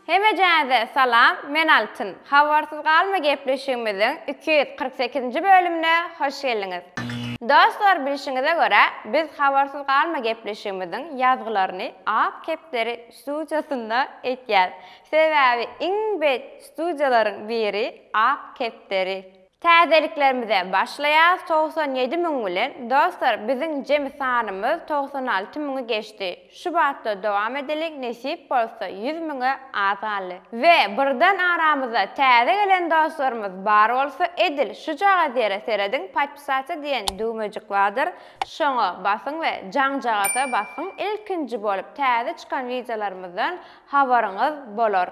Hemejäze salam men Altyn. Habarsyz galma gepleşigimiziň iki ýüz kyrk sekizinji bölümine hoş geldiňiz. Dostlar bilşiňize görä biz habarsyz galma gepleşigimiziň ýazgylaryny ak kepderi studiýasynda etýär. Sebäbi iň bet studiýalaryň biri Ak kepderi. Täzeliklerimize başlaýas togsan ýedi müň bilen dostlar biziň jemi sanymyz togsan alty müňi geçdi şu batda dowam edeliň nesip bolsa ýüz müňe az galdy we birden aramyza täze gelen dostlarymyz bar bolsa edil şujagaz ýere serediň podpisatsa diýen düwmejik bardyr Şoňa basyň we jaňjagata basyň ilkinji bolup täze çykan wideolarymyzdan habaryňyz bolar.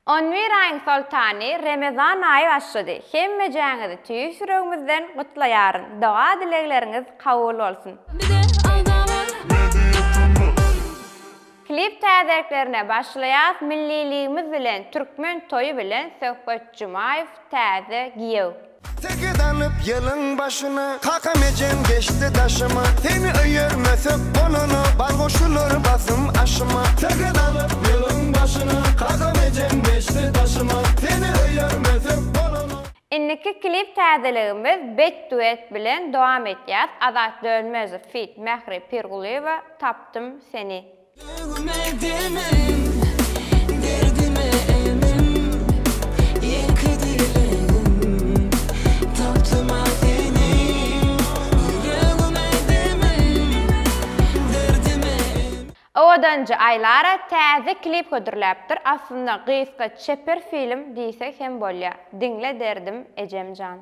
On bir aýyň soltany Remezan aýy başlady. Hemmejäňizi tüýs ýüregimizden gutlaýaryn. Doga dilegleriňiz kabul bolsun. Bize agzalar. Media Turnus. Klip täzeliklerine başlaýas milliligimiz bilen türkmen toýy bilen Söhbet Jumaýew täze giýew. Teke dalyp ýylyň başyna, Kakam ejeň geçdi daşyma, Seni öýermesek bolana, Bal goşular basym aşyma. Teke dalyp ýylyň başyna, Kakam ejeň geçdi daşyma, Seni öýermesek bolana. Indiki klip täzeligimiz Bet Duet bilen dowam etýäs Azat Dönmezow feat Mähri Pirgulyýewa. Tapdym seni. Ögüme deneýin, derdime emin, ýeke dilegim, tapdym-a seni. Ögüme deneýin, derdime emin. Owadanjy Aýlara täze klip hödürläpdir, aslynda gysga çeper film diýsek hem bolýar. Diňle derdim, Ejemjan.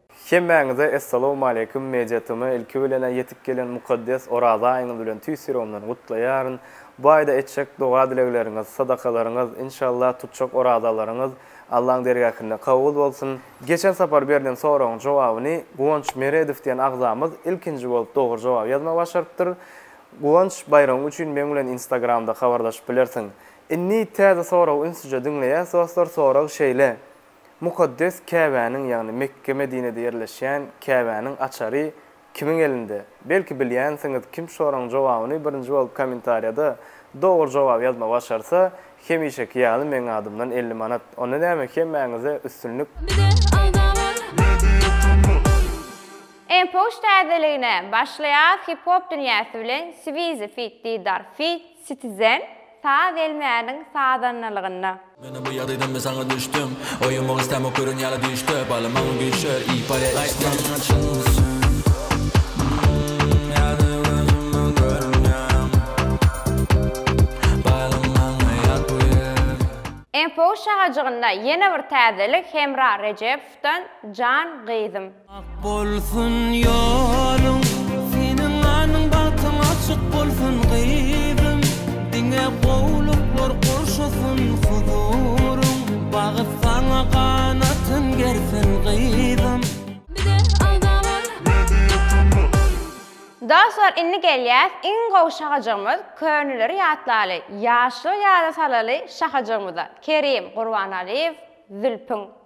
Hemmäňize Essalamualeýkum Media TM ilki bilenä ýetip gelen mukaddes Oraza aýyňyz bilen tüýs ýüregimden gutlaýaryn. Bu aýda etjek doga-dilegleriňiz, sadakalaryňyz, inşallah tutjak orazalaryňyz Allaň dergähinde kabul bolsun. Geçen sapar berlen soragyň jogabyny Guwanç Meredow diýen agzamyz ilkinji bolup dogry jogap ýazma başarypdyr. Guwanç, baýragyň üçin meň bilen Instagramda habarlaşyp bilersiň. Indi täze soragy ünsüje diňleýäs dostlar, sorag şeýle. Mukaddes Käbäniň, ýagny Mekge-Medinede ýerleşýän Käbäniň açary kimiň elinde? Belki bilýänsiňiz, kim soragyň jogabyny birinji bolup kommentariýada dogry jogaby ýazmagy başarsa, hemişeki ýaly meň adymdan elli manat. Onda näme, hemmäňize üstünlik! Inpush täzeligine, başlaýas hip-hop dünýäsi bilen Swizi feat. Didar feat. Citizen saz elmäniň sazandalygynda. Meni bu ýagdaýdan men saňa düşdüm Oýamak islämok gören ýaly düýşde Bally maňa güýçe Eýforiýa içdim Aýt maňa çynmy sen Ýa-da gözüme görünýäň Bally maňa ýat bu ýerde. Info şagajygynda ýene bir täzelik Hemra Rejepowdan Jan gyzym. Ak bolsun ýoluň seniň anyň bagtyň açyk bolsun gyzym diňe gowluklar gurşasyn huzuryň bagyt saňa ganatyn gersin gyzym. Dostlar indi gelýäs iň gowy şahajygymyz köneleri ýatlaly ýaşlygy ýada salaly şahajygymyza Kerim Gurbanaliýew Zülpüň.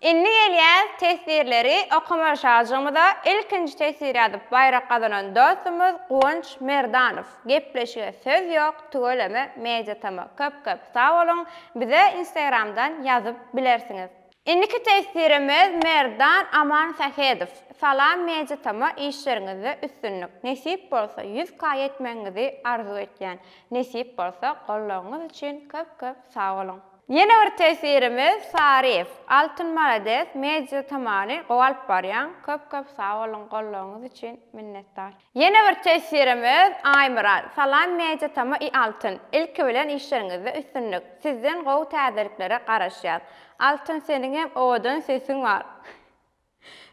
Indi gelýäs teswirleri okamaga şajygymyza, ilkinji teswir ýazyp baýrak gazanan dostumyz Guwanç Merdanow. Gepleşige söz ýok tüweleme media tama köp köp sag boluň, bize instagramdan ýazyp bilersiňiz. Indiki teswirimiz Merdan Aman Sähedow. Salam media tama işleriňizde üstünlik, nesip bolsa ýüz ka ýetmegiňizi arzuw etýän, nesip bolsa gollagyňyz üçin köp köp sag boluň. Ýene bir tesirimiz Sarif. Altyn malades media tomany gowy alyp barýaň köp köp sag boluň goldawyňyz üçin minnetdar. Ýene bir tesirimiz Aýmyrat. Salam media toma i Altyn. Ilki bilen işleriňizde üstünlik. Sizden gowy täzeliklere garaşýas. Altyn seniňem owadan sesiň bar.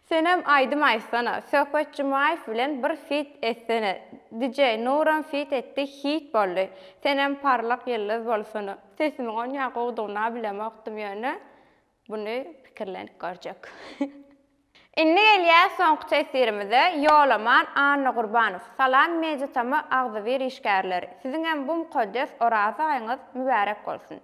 Senem aýdym aýtsana. Söhbet Jumaýew bilen bir fit etsene. DJ Nuram fit etdi hit boldy. Senem parlak ýyldyz bolsana. Sesimiň onýa gowdugynaa bilemokdym ýöne buny pikirlenip görjek. Indi gelýäs soňky teswirimize Ýolaman Annagurbanow Salam Media Tama agzybir işgärleri. Siziňem bu mukaddes Oraza aýyňyz mübärek bolsun.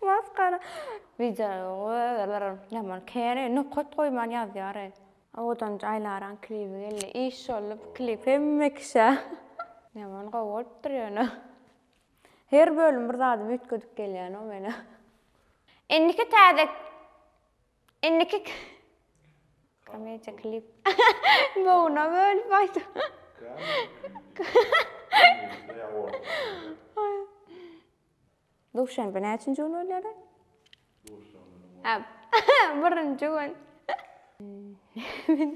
Masgara wideolar goýýar ýaman keri nokat goýman ýazýar eý. Owadanjy Aýlaraň klibi geldi. Iş boldy bu klip hemme kişä. Ýaman gowy bolupdyr ýöne. Her bölüm bir zadym üýtgedik gelýänok mena. Indiki täze indiki komediýa klip boguna bölüp aýdyp. Kän. Duşenbe näçinji gün bolýardy? Duşenbe. Birinji gün.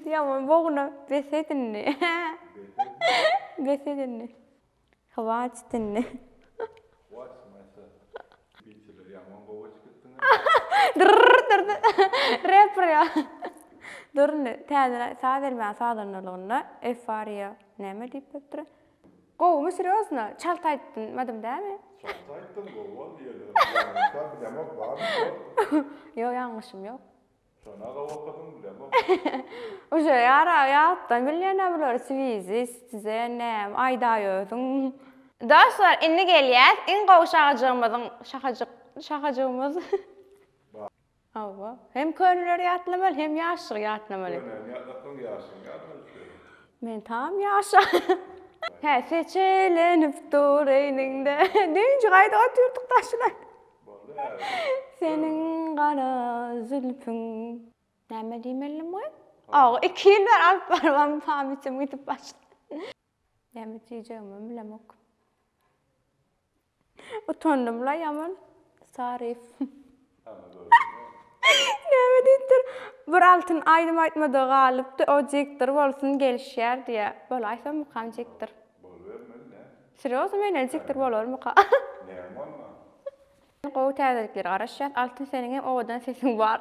Ýaman bogna bes edindi. Bes edindi. Hwaç edindi. Hwaç myself. Biçiler ýaman gowy çykypdyňyz. Dyrrrr durdy. Rapper ýa. Dur indi täze saz elmäň sazandalygyna Euphoria näme diýip beripdir? Gowymy srýozno? Çalt aýtmadym dämi? Çalt aýtdyň gowy boldy ýöne ýalňyşam bilemok barmy ýokmy. Ýok ýalňyşym ýok. Şona gowy okadyň bilemok. Uje ýara ýatdan bilýänä bulary swizist, size näme, aýdaý özüň. Dostlar indi gelýäs iň gowy şagajygymyzyň şagajygymyz. Hawa. Hem köneleri ýatlamaly, hem ýaşlygy ýatlamaly. Könäni ýatlasaň, ýaşyňy ýatlap biler. Men tam ýaşa. Hä, seçelenip dur egninde. Düýnji gaýdy otyrdyk daşyna. Boldy häzir. Seniň gara zülpüň. Näme diýmeldim we? Aw, iki ýyl bäri alyp barybam pamýatim gidip başlady. Näme diýjegimem bilemok. Utandym-la ýaman. Sorry. Näme diýipdir. Bir Altyn aýdym aýtmadygy galypdy, o diktor bolsun gelişýär diýýär. Bolaýsamykam diktor? Bolubermeli nä? Serýozno menden diktor bolarmyka? Näme bolman? Gowy täzelikleri garaşýas Altyn seniň hem owadan sesiň bar.